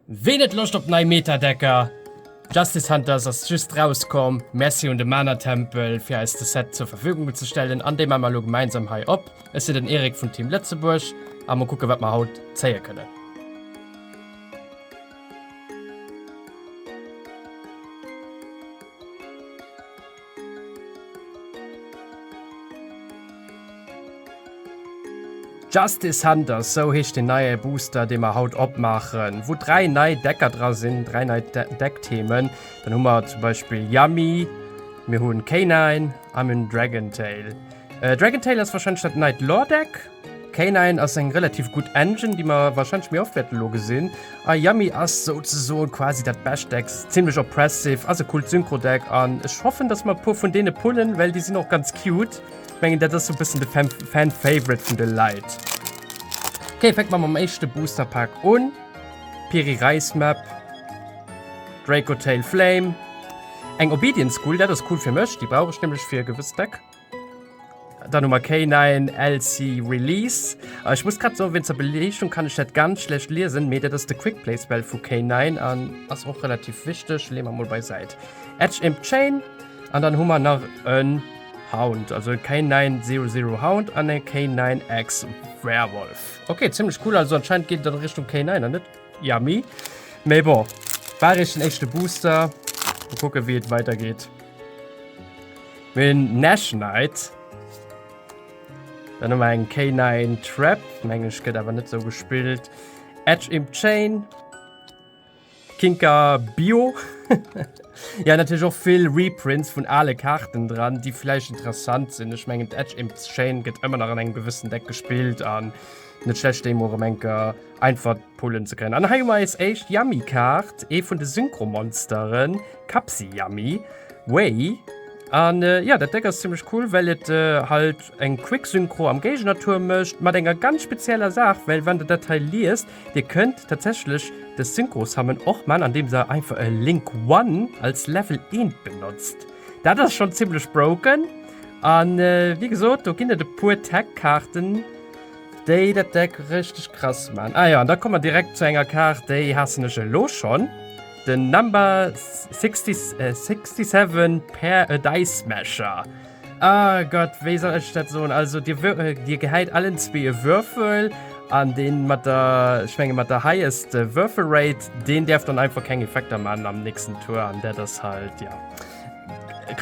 Ween huet Loscht op nei Meta-Decker? Justice Hunters ass just rauskomm. Merci un de Mana Tempel fir eis de Set zur Verfügung ze stellen an dee man mer elo gemeinsam hei op. Ech sinn den Eric vun Team Lëtzebuerg a mer kucken wat mer haut zéie kënnen. Justice Center, sou heescht den neie Booster, dee mer haut opmaachen, wou dräi nei Decker dra sinn, dräi nei Deckthemen. Dann hu mer zum Beispiel Yummy, mir hunn K9 a mir hunn Dragon Tail. Äh, Dragon Tail ass wahrscheinlech dat neit Lore-Deck. K9 ass eng relativ gutt Engine, déi mer warscheinlech méi oft wäerte lo gesinn. A Yummy ass souzesoen quasi dat bescht Deck, zimmlech oppressive, ass e coolt Synchro-Deck an ech hoffen, dass mer e puer vun deene pullen, well déi sinn och ganz cute. Ech mengen, dat ass sou e bëssen de Fan-Favorite vun de Leit. Ok, fänke mer mam éischte Booster-Pak un, Piri Reis Map, Draco Tail Flame, eng Obedient School, dat ass cool fir mech, déi brauch ech nämlech fir e gewësst Deck. Dann hu mer kei neien LC Release. Äh, Ech muss grad so wéinst der Beleegung kann ech dat ganz schlecht liesen, mee dat ass de Quick Play Spell vu kei neien an ass och relativ wichteg. Lee mer mol bei Säit. Edge Imp Chain an dann hu mer nach e Hound, also e kei neien Zero Zero Hound an e kei neien Ex Werewolf. Ok, zimmlech cool. Also anscheinend geet et an Richtung kei neien an net Yummy. Mee bon, war eréischt den éischte Booster. Mol kucke wéi et weidergeet. Mir hunn Nash Knight. Dann hu mer eng K9 Trap, meng ech gëtt awer net esou gespillt. Edge Imp Chain. Kinker Bio. ja natierlech och vill Reprints vun ale Kaarten dran, déi vläicht interessant sinn. Ech mengen d'Edge Imp Chain gëtt ëmmer nach an engem gewëssen Deck gespillt an net schlecht déi emol erëm eng Kéier einfach Pullen ze kréien. An hei hu mer eis éischt Yummy-Kaart, ee vun de Synchro-Monsteren, Kapsi Yummy, Wei. An jo, dat Déck ass zimmlech cool, well et halt eng Quick-Synchro am Géigener-Tuerm mécht, mat enger ganz spezieller Saach, well wann Der dat hei liest, Dir kënnt tatsächlech de Synchro-Summon och man, andeem Der einfach e Link One als Level eent benotzt. Dat ass schonn zimmlech broken. An wéi gesot, do ginn et e puer Tech-Kaarten. Déi dat Deck richteg krass man. Ah jo, an da komme mer direkt zu enger Kaart, déi haassen ech elo schonn, den Number 67 Pair a Dice Smasher. Ah Gott, wéi soll ech dat soen? Also Dir gehäit allen zwee e Würfel an deen mat der, ech menge mat der highest Würfel Rate, deen däerf dann einfach keng Effekter man am nächsten Tour an dat ass halt, jo.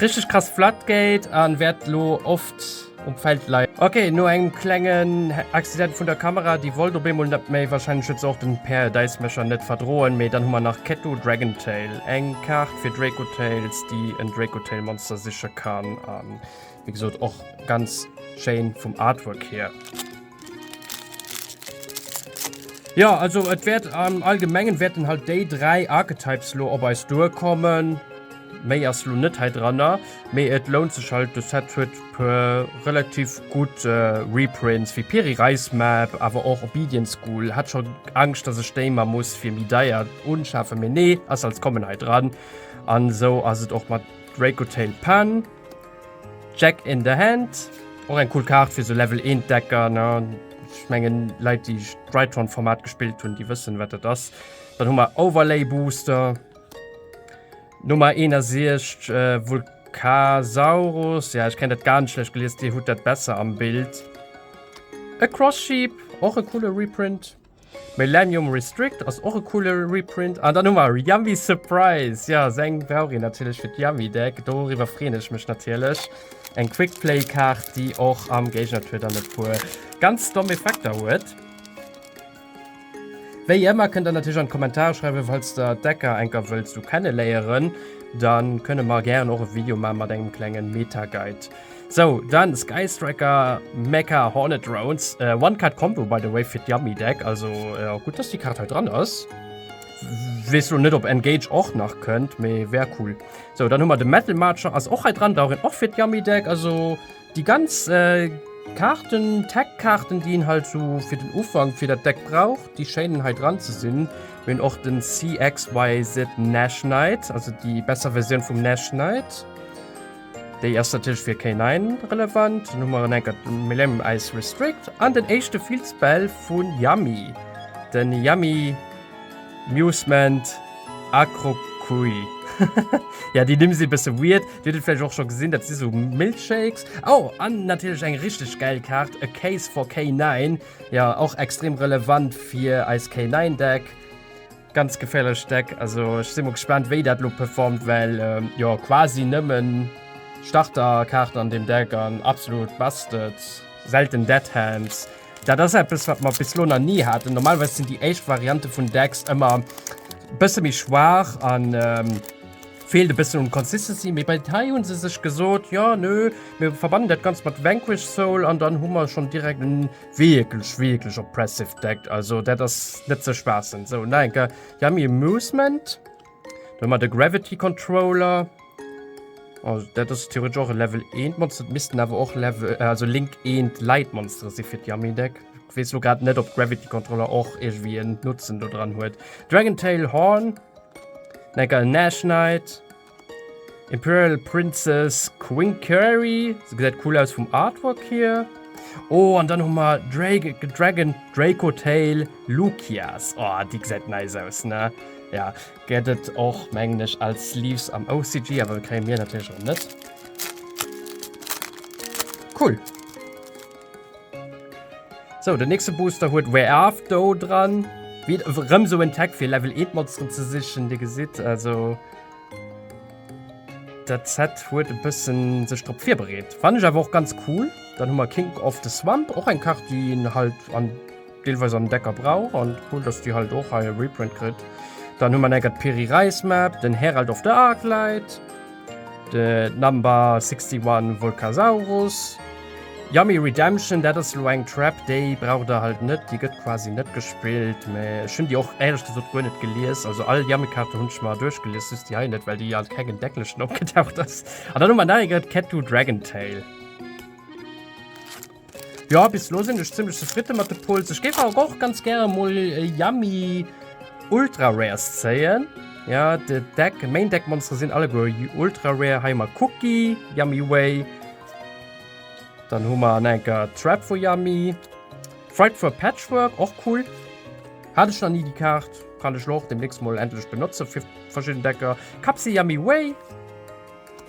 Richteg krass flat Gate an wärt lo oft um Feld leien. Ok, no engem klengen Accident vun der Kamera, déi wollt op eemol net méi, wahrscheinlech huet se och den Paradise Mecher net verdroen, mee dann hu mer nach Ketto Dragontail, eng Kaart fir Dracotails, déi en Dracotail Monster siche kann, an. Wie gesot och ganz schéin vum Artwork hier. Ja, also et wäert am Allgemengen wäerten halt déi dräi Archetypes lo op eis duerkommen. Méi ass lo net hei dranner, mee et lount sech halt. De Set huet e puer relativ gutt Reprints, wéi Peri Reismap, awer och Obedient School. Hat scho Angscht, datt ech déi mer muss fir méi deier unschafen, mee nee, ass als Common hei dran. An esou ass et och mat Dracotail Pan. Jack in the Hand, och eng cool Kaart fir sou Level 1 Decker ne. Ech mengen Leit déi Drytron Format gespillt hunn, déi wëssen wat dat ass. Dann hu mer Overlay Booster. Nummer 61 Vulkana Casaurus, ja ech kennt dat ganz schlecht gelies, Dir hutt dat besser am Bild. E Cross Sheep, och e coole Reprint. Millennium Restrict ass och e coole Reprint. An dann hu mer Yummy Surprise. Ja, seng brauch een natierlech fir d'Yummy Deck. Doriwwer freen ech mech natierlech. Eng Quick Play Kaart, déi och am Géigner Tuer dann e puer ganz domm Effekter huet. Wéi ëmmer kënnt der natierlech an d'Kommentare schreiwen, falls der d'Decker enker wëllt sou kenneléieren. Dann kënne mer gären och e Video maache mat engem klengen Meta Guide. Sou, dann Sky Striker, Mecha Hornet Drones, äh, One Card Combo by the way fir d'Yummy Deck, also äh, gut dass die Karte halt dran ass. Wees du net op Engage och nach kënnt, méi wär cool. So dann hummer de Metal Marcher ass och halt dran, daurin och fir d'Yummy Deck, also die ganz äh, Karten Tech-Karten, die en halt so fir den Ufang fir dat Deck braucht, die Schäinen halt dran ze sinn. Min och den CXYZ Nash Knight, also die besser Version vum Nash Knight. Déi ass natierlech fir K9 relevant. Dann hu mer en enker Millennium Ice Restrict an den éischte Fields-Bell vu Yummy, de Yummy Musement Acrocouille. Jo, déi Nimm si e bësse weird, Dir hutt et vläicht och scho gesinn, dat si sou Milkshakes. Oh, an natierlech eng richteg gäil Kaart, A Case for K9, jo, och extrem relevant fir eis K9-Deck. Ganz geféierlech Stack, also ech si mol gespaant wéi dat lo performt, well jo quasi nëmmen Starterkaarten an deem Deck an absolut busted, selten dead hands. Dat ass eppes wat mer bis lo nach ni haten, normalerweis sinn déi éischt Variante vun Decks ëmmer bësse méi schwaach a feelt e bëssen un Consistency, mee bei hei hu se sech gesot, jo nö, mir verbannen dat Ganzt mat Vanquished Soul an dann hu mer schonn direkt en Wierklech wierklech oppressive Deck, also dat ass net ze spaassen. Sou nach enker Yummy Amusement, do hu mer de Gravity Controller, oh dat ass theoretesch och e Level 1 Monster, et missten awer och Level, also Link 1 Light Monstere si fir d'Yummy Deck. Weess lo grad net op Gravity Controller och iergendwéi en Nutzen do dran huet. Dragon Tail Horn, nach enker en Nash Knight. Imperial Princess Queen Curry. Se gesäit cool aus vum Artwork hier. Oh, an dann hu mer Drake, Dragon Draco Tail Lukias. Oh, déi gesäit nice aus, ne? Ja, gëtt et och, mengen ech, als Sleeves am OCG, awer kréie mir natierlech och net. Cool. So, den nächste Booster huet Where Are do dran. Wie, rem so en Tag fir Level 1 Monster ze sichen. Dir gesitt also, dat Set huet e bëssen sech drop virbereet. Fannen ech awer och ganz cool. Dann hu mer King of the Swamp, och eng Kaart, déi een halt an. deelweis an decker Brauch an cool dass déi halt och hei e Reprint kritt. Dann hu mer an enger d'Peri Reis Map, den Herald of the Arclight, de Number 61 Volcasaurus, Yummy Redemption, dat ass elo eng Trap déi braucht der halt net, déi gëtt quasi net gespillt, mä ech hunn déi och éierlech gesot guer net gelies, also all Yummy Kaarte hunn ech mer duerchgelies, just déi hei net, well déi an kengem Decklechen opgetaucht ass. An dann hu mer nach eng Cat Two Dragon Tail. Jo, bis lo sinn ech zimlech zefridde mat de Pulls. Ech géif awer och ganz gäre mol e Yummy Ultra Rares zéien. Ja, de Deck, Main Deck Monstere sinn alleguer Ultra Rare. Hei hu mer Cookie, Yummy Way. Dann hu mer an enker Trap vu Yummy. Fright for Patchwork, och cool. Hat ech nach ni déi Kaart. Kann ech lo och demnächst mol endlech benotzen fir verschidden Decker. Kapsel Yummy Way.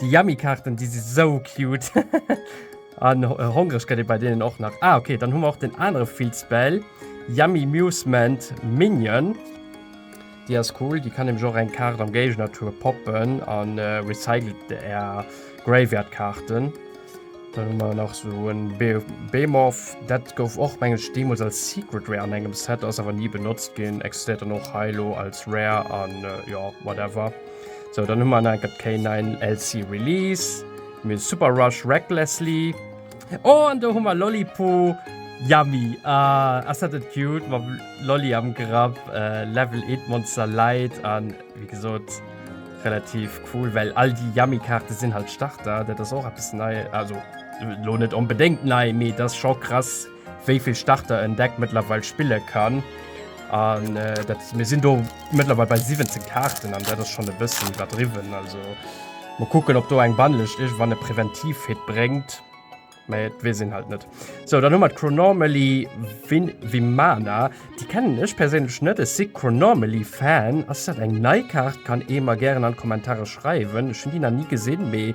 Déi Yummy Kaarten déi si sou cute. An hongreg gëtt ee bei deenen och nach. Ah okay, dann hu mer och den anere Filzbell, Yummy Musement Minion. Déi ass cool, déi kann nämlech och eng Kaart am Géigener-Tour poppen a recycelt är Graveyard Kaarten. Dann hu mer nach sou en Behemoth, dat gouf och meng ech deemools als Secret Rare an engem Set, ass awer ni benotzt ginn, existéiert dann och hei elo als Rare an jo, whatever. So dann hu man enker K9 LC Release, mir Super Rush Recklessly. Oh an do hu man Lollipo Yummy. Ah, ass dat net cute mam Lolli am Grapp, äh, Level 8 Monster Light an wie gesot relativ cool, well all déi Yummy-Kaarte sinn halt Starter, dat ass och eppes nei, also lo net onbedéngt nei, mee et ass scho krass. wéi vill Starter en Deck mëttlerweil spille kann. An äh, dat, mir sinn do mëttlerweil bei 17 Karten an dat ass schon e bëssen iwwerdriwwen. Also mo kucken, ob do eng Bannlecht ech wann e präventiv Hit bréngt. Mä et wees een halt net. So dann hummer Chronormally Win Wimana. Di kennen ech perséinlech net. Ech si Chronormally Fan. Ass dat eng nei Kart? Kann ee mer gären an d'Kommentare schreiwen. Ech hunn déi nach ni gesinn, mee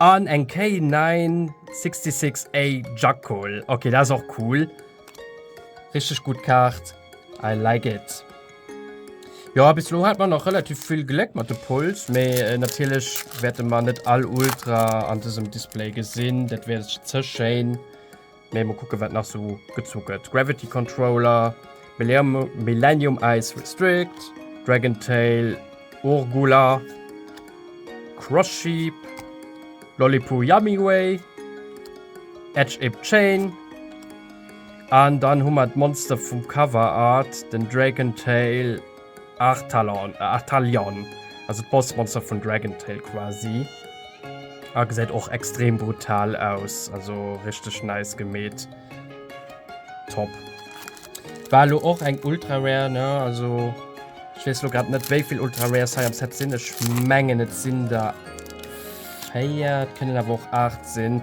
An eng K966A Jackal. Ok dat ass och cool. Richteg gutt Kaart. I like it. Jo bis elo hat mer nach relativ vill Gléck mat de Pulls, mee natierlech wäerte mer net all Ultra an dësem Display gesinn, dat wär ze schéin. Mee mol kucken wat nach sou gezu gëtt. Gravity Controller, Millennium Ice Restrict, Dragon Tail, Urgula, Cross Sheep, Lollipoo Yummy Way, Edge Ip Chain, an dann hu mer d'Monster vum Cover Art, den Dragon Tail, Artalan, äh, Artalion, also d'Bossmonster vun Dragon Tail quasi. Ah, gesäit och extrem brutal aus, also richteg nice gemeet. Top. War lo och eng Ultra Rare, ne, also ich wees lo grad net wéivill Ultra Rares hei am Set sinn, ech mengen et sinn der 4, et kënnen awer och 8 sinn.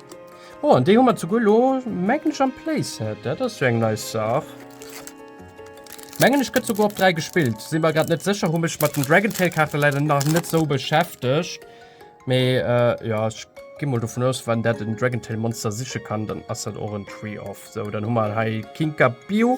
Oh, an déi hu mer zuguer lo, mengen ech, am Playset. Dat ass jo eng nei Saach. Mengen ech, gëtt souguer op 3 gespillt. Si mer grad net sécher, hu mech mat den Dragon Tail Kaarte leider nach net sou beschäftegt. Mee jo, ech gi mol dovun aus, wann dat en Dragon Tail Monster siche kann, dann ass dat och en Tree of. Sou, dann hu mer hei Kinkabio.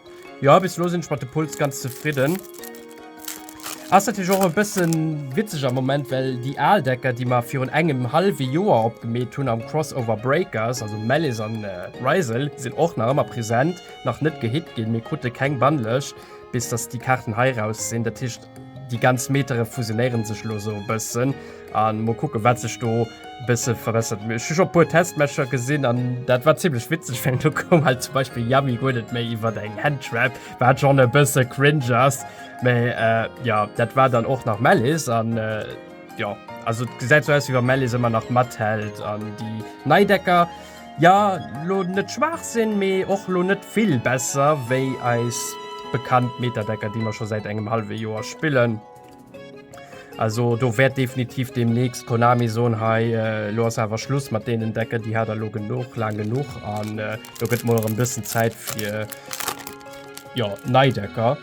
Jo, bis elo sinn ech mat de Puls ganz zefridden. Ass natierlech och e bëssen witzeg am Moment, well déi al Decker, déi mer virun engem hallwe Joer opgemeet hunn am Crossover Breakers, also Malice an Ryssel, sinn och nach ëmmer present, nach net gehit ginn, mir krute keng Bannlëscht bis dass déi Kaarten hei raus sinn, dat heescht, Déi ganz Metere fusionéieren sech elo esou e bëssen. A mol kucken, wat sech do e bësse verbessert. Mee ech hu scho e puer Testmatcher gesinn an dat war zimmlech witzeg, well do koum halt zum Beispill Yami guer net méi iwwer eng Handtrap, wat schonn e bësse cringe ass. Mee jo, dat war dann och nach Malice an jo, also et gesäit esou aus, wéi wa Malice ëmmer nach mathält an déi nei Decker, Ja, lo net schwaach sinn, mee och lo net vill besser wéi eis bekannt Metadecker, déi mer scho säit engem hallwe Joer spillen. Also do wäert definitiv deemnächst Konami soen, hei lo ass awer Schluss mat deenen Decker, déi hat der lo genuch, laang genuch an do gëtt mol erëm bëssen Zäit fir, jo, nei Decker.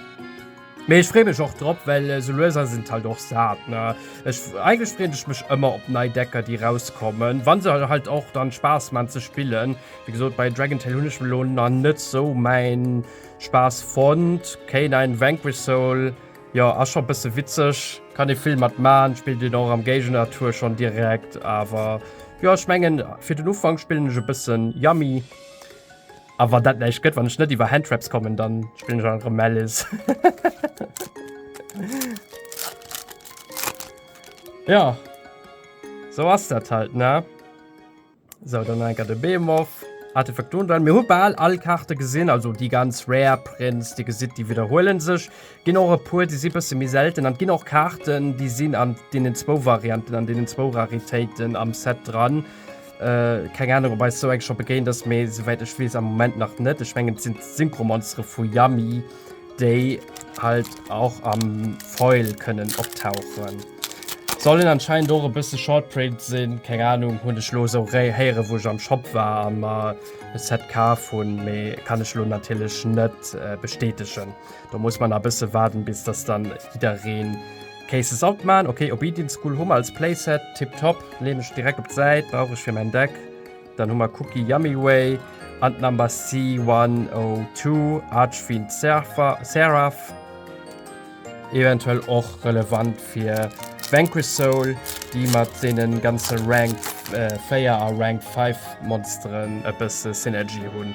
Mee ech free mech och drop, well sou luesam sinn d'Leit och sat, ne? Ech, eigentlech freen ech mech ëmmer op nei Decker déi rauskommen, wann se halt och dann Spaass man ze spillen. Wéi gesot bei Dragon Tail hunn ech elo na net sou mäin Spaass fonnt. K9 an Vanquish Soul, jo ass scho bësse witzeg, kann ee vill mat man, spillt een och am Géigner Tour schonn direkt, awer jo ech mengen fir den Ufank spillen ech e bëssen Yummy. A wann dat näischt gëtt, wann ech net iwwer Handtraps kommen, dann spillen ech einfach Malice. ja. So ass dat halt, ne? So, dann enker de Behemoth. Artefaktoren dran. Mir hu bal all Karte gesinn, also déi ganz rare Prints, Dir gesitt, déi widderhuelen sech. ginn och e puer, déi si bësse méi selten. An ginn och Kaarten, déi sinn an deenen zwou Varianten, an deenen zwou Raritéiten am Set dran. Äh, keng Ahnung, ob eis sou eng scho begéint ass, mee souwäit ech weess, am Moment nach net. Ech mengen, et sinn d'Synchromonstere vu Yummy, déi halt och am Foil kënnen optauchen. Sollen anscheinend och e bësse Shortprint sinn, keng Ahnung, hunn ech lo sou héieren, wou ech am Shop war a mer e Set kaf hunn, mee kann ech lo natierlech net bestätegen. Da muss man a bësse waarden, bis dass dann jiddereen Cases alt man. Okay, Obedience School hu mer als Playset. Tip top. Leen ech direkt op d'Säit. Brauch ech fir mäin Deck. Dann hu mer Cookie Yummy Way. An Number C102 Archfiend Seraph. Eventuell och relevant fir Vanquish Soul, déi mat deenen ganze Rank 4 a Rank 5 Monsteren e bësse Synergy hunn.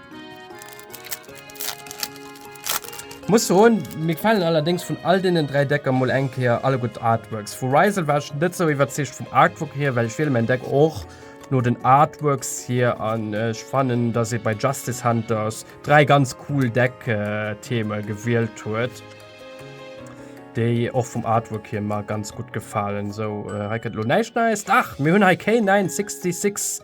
Muss soen, mir gefalen allerdéngs vun all deenen 3 Decker mol eng Kéier alleguer d'Artworks. Vu Ryzel war ech net sou iwwerzeegt vum Artwork hier, well ech wiele mäin Deck och no den Artworks hier an ech fannen dass ee bei Justice Hunters 3 ganz cool Deck Theme gewielt huet, déi och vum Artwork hier mer ganz gutt gefalen. Sou hei kënnt elo näischt Neies, dach mir hunn hei K-966.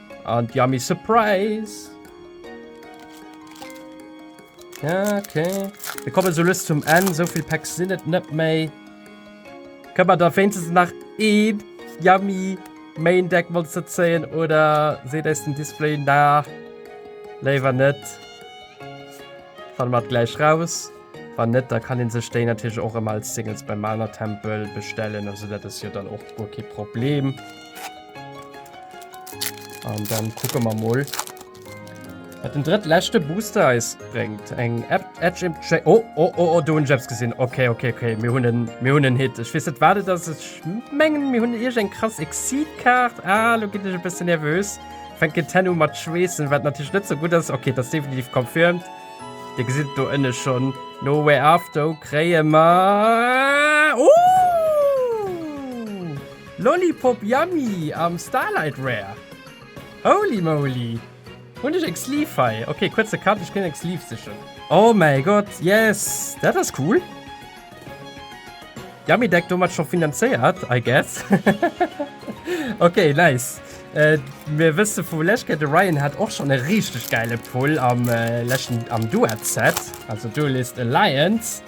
And yummy surprise! Ja, okay. Wir kommen so lust zum Ende. So viel Packs sind es nicht mehr. Können wir da wenigstens nach ein Yummy Main Deck Monster ziehen? Oder seht es den Display nach? Lieber nicht. Fahren wir gleich raus. Wenn nicht, dann kann ich sich den natürlich auch immer als Singles beim Mana Tempel bestellen. Also, das ist ja dann auch kein Problem. An dann kucke mer mol, wat den drëttleschte Booster eis bréngt. Eng App Edge im Tra Oh, oh, oh, oh, do hunn ech eppes gesinn. Okay, okay, okay, mir hunn en, mir hunn en Hit. Ech weess net, wat et ass. Ech mengen, mir hunn iergeng krass Exit-Kaart. Ah, lo ginn ech e bëssen nervös. Fänkt en tenno mat schweessen, wat natierlech net sou gutt ass. Okay, et ass definitiv confirmed. Dir gesitt et do ënne schonn. No Way After kréie mer. Oh! Lollipop Yummy am Starlight Rare. Holy moly! Hunn ech eng Sleeve hei? Ok, kuerze Cut, ech ginn eng Sleeve sichen. Oh mäi Gott, yes! Dat ass cool! Yummy Deck domat scho finanzéiert, I guess. Ok, nice. Mir wësse vu lech ke de Ryan hat och schonn e richteg gäile Pull am leschten, am Duet-Set, also Duelist Alliance.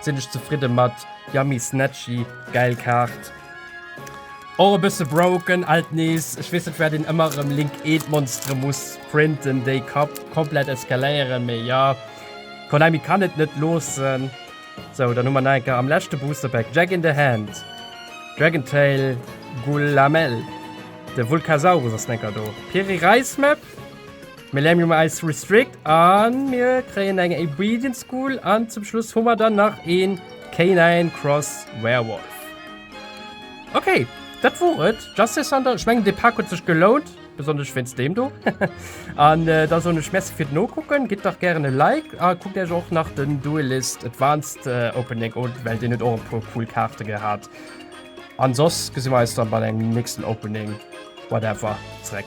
sinn ech zefridde mat Yummy Snatchy, gäil Kaart. Och e bësse broken alt nees, ech weess net waat een ëmmer erëm link eent Monstre muss printen déi Kapp komplett eskaléieren, mee jo Konami kann et net loossen. Sou, dann hu mer nach eng Kéier am leschte Booster Pack Jack in the Hand, Dragontail, Gullamel, de Vulcasaurus ass nach eng Kéier do, Piri Reis Map, Mir lämen um eis Restrict an mir kréien eng Obedient School an zum Schluss hu mer dann nach een Canine Cross Werewolf. Okay, dat wor et. Justice Center, ech mengen dee Pak huet sech gelount, besonnesch wéinst deem do. An da soen ech Merci fir d'Nokucken, gitt dach gären e Like a kuckt iech och nach den Duelist Advanced Opening un, well deen huet och e puer cool Kaarte gehat. An soss gesi mer eis dann bei engem nächsten Opening whatever zeréck.